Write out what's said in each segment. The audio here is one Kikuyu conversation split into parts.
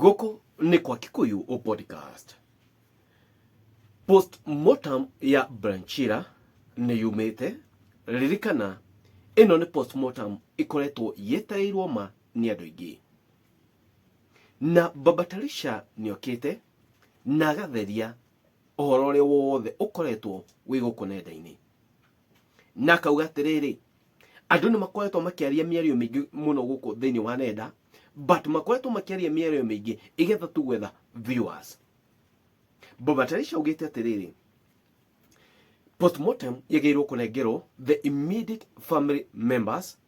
Gũkũ nĩ kwa Kikuyu O Podcast. Postmortem ya Branchira nĩ yumĩte. Ririkana ĩno nĩ postmortem ĩkoretwo yetereirwo ma nĩ andũ aingĩ. Na Baba Talisha nĩokĩte na agatheria ũhoro ũrĩa wothe ũkoretwo wĩ gũkũ nenda-inĩ. na akauga atĩrĩrĩ andũ nĩ makoretwo makĩaria mĩario mĩingĩ mũno gũkũ thĩinĩ wa nenda but makoretwo makĩaria mĩario mĩingĩ igetha tu gwetha viewers Boba Tarisha augĩte atĩrĩrĩ postmortem yagĩrĩirwo kũnengerwo the immediate family members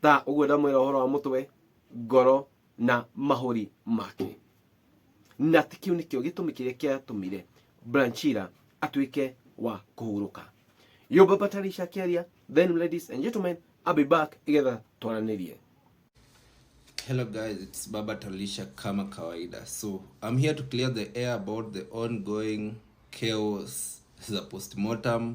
ta ũguo ndamwĩra ũhoro wa mũtwe ngoro na mahũri make na ti kĩu nĩkĩo gĩtũmi kĩrĩa kĩatũmire branchira atuĩke wa kũhurũka yo baba tarisha kĩaria then ladies and gentlemen I'll be back igetha twaranĩrie Hello guys, it's Baba Talisha kama kawaida. So, I'm here to clear the air about the ongoing chaos za postmortem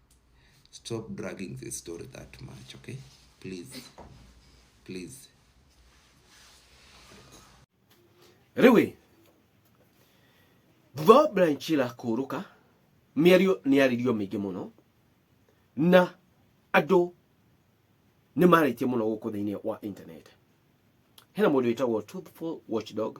stop dragging the story that much okay please please Rĩu thutha Brian Chila kũrũka mĩario nĩ yaririo mĩingĩ mũno na andũ nĩ marĩtie mũno gũkũ thĩinĩ wa internet hena mũndũ wĩtagwo Truthful Watchdog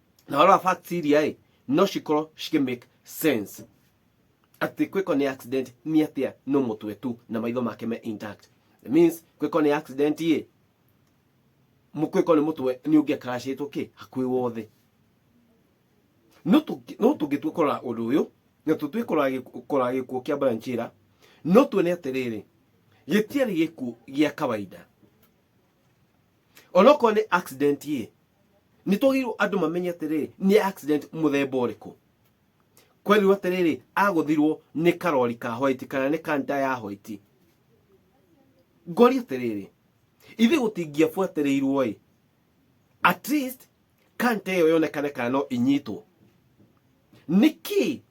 na wala facts iria ĩ no cikorwo cikĩ make sense atĩ kwĩko nĩ accident nĩ atĩa no mũtwe tu na maitho make me intact It means kwĩko nĩ accident ĩ mũkwĩko nĩ mũtwe nĩ ũngĩakaracĩtwo kĩ hakuĩ wothe no tũngĩ- no tũngĩtua kũrora ũndũ ũyũ na tũtue kũrora gĩkuũ kĩa branchira no tuone atĩrĩrĩ gĩtiarĩ gĩkuũ gĩa kawaida onokorwo nĩ accident ĩ nĩ twagĩrĩirwo andũ mamenye atĩrĩrĩ nĩ accident mũthemba ũrĩkũ kwerirwo atĩrĩrĩ agũthirwo nĩ karori ka hoiti kana nĩ kanta ya hoiti ngori atĩrĩrĩ ithe gũtingĩabuatĩrĩirwo ĩ at least kanta ĩyo yonekane kana no inyitwo nĩkĩ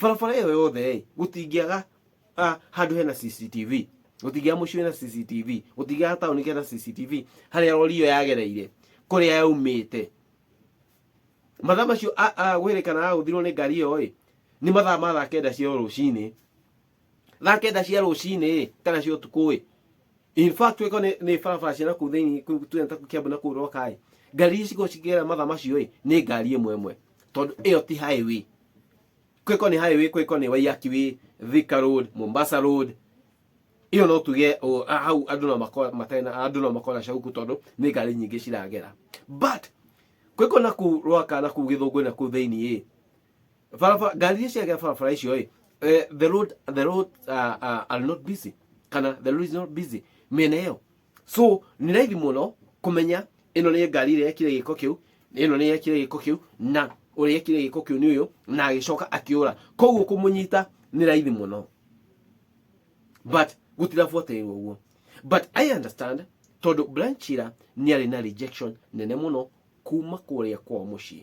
barabara ĩyo yothe-ĩ gũtingĩaga ah, handũ hena cctv gũtingĩaga mũciĩ wĩna cctv gũtingĩaga taũni kena cctv harĩa rori ĩyo yagereire kũrĩa yaumĩte mathaa macio a- a- gwĩrĩkana agũthirwo nĩ ngari ĩyo-ĩ nĩ mathaa ma thaa kenda cia rũcinĩ thaa kenda cia rũcinĩ kana cia ũtukũ in fact wĩko nĩ nĩ barabara cia nakũu thĩinĩ kũu tuge ta kĩambu na kũu rokaĩ ngari ici cikorwo cikĩgera mathaa macio ĩ nĩ ngari ĩmwe ĩmwe tondũ ĩyo ti highway kwĩko nĩ highway kwĩko nĩ waiyaki wĩ thika road mombasa road iyo no tuge o, a- hau andå no makora matarĩ na- andũ no makona cauku tondå nä ngari nyingä ciragera but kwä kå na kå rwaka na kå gä thå ngå na kå thä iniä barabara ngari iria ciagera barabara icio ĩ eh, the road the road uh, uh, are not busy kana the road is not busy mĩena ĩyo so nĩ raithi mũno kũmenya ĩno nĩ ngari ĩrĩa yekire gĩko kĩu ĩno nĩ yekire gĩko kĩu na ũrĩa yekire gĩko kĩu nĩ ũyũ na agĩcoka akĩũra koguo kũmũnyita nĩ raithi mũno but gũtirabuatĩrĩrwo ũguo but i understand tondũ branchira nĩ arĩ na rejection nene mũno kuma kũrĩa kwa mũciĩ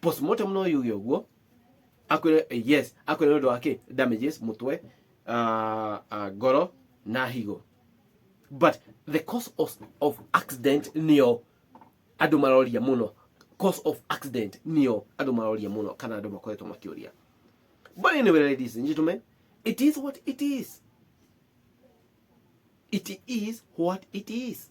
postmortem no yuge ũguo akwĩre eh, yes akwĩre nĩ ũndũ wa kĩ damages mũtwe ah, ah, ngoro na higo but the cause of, of accident nĩyo andũ maroria mũno cause of accident nĩyo andũ maroria mũno kana andũ makoretwo makĩũria but anyway ladies and gentlemen it is what it is it is what it is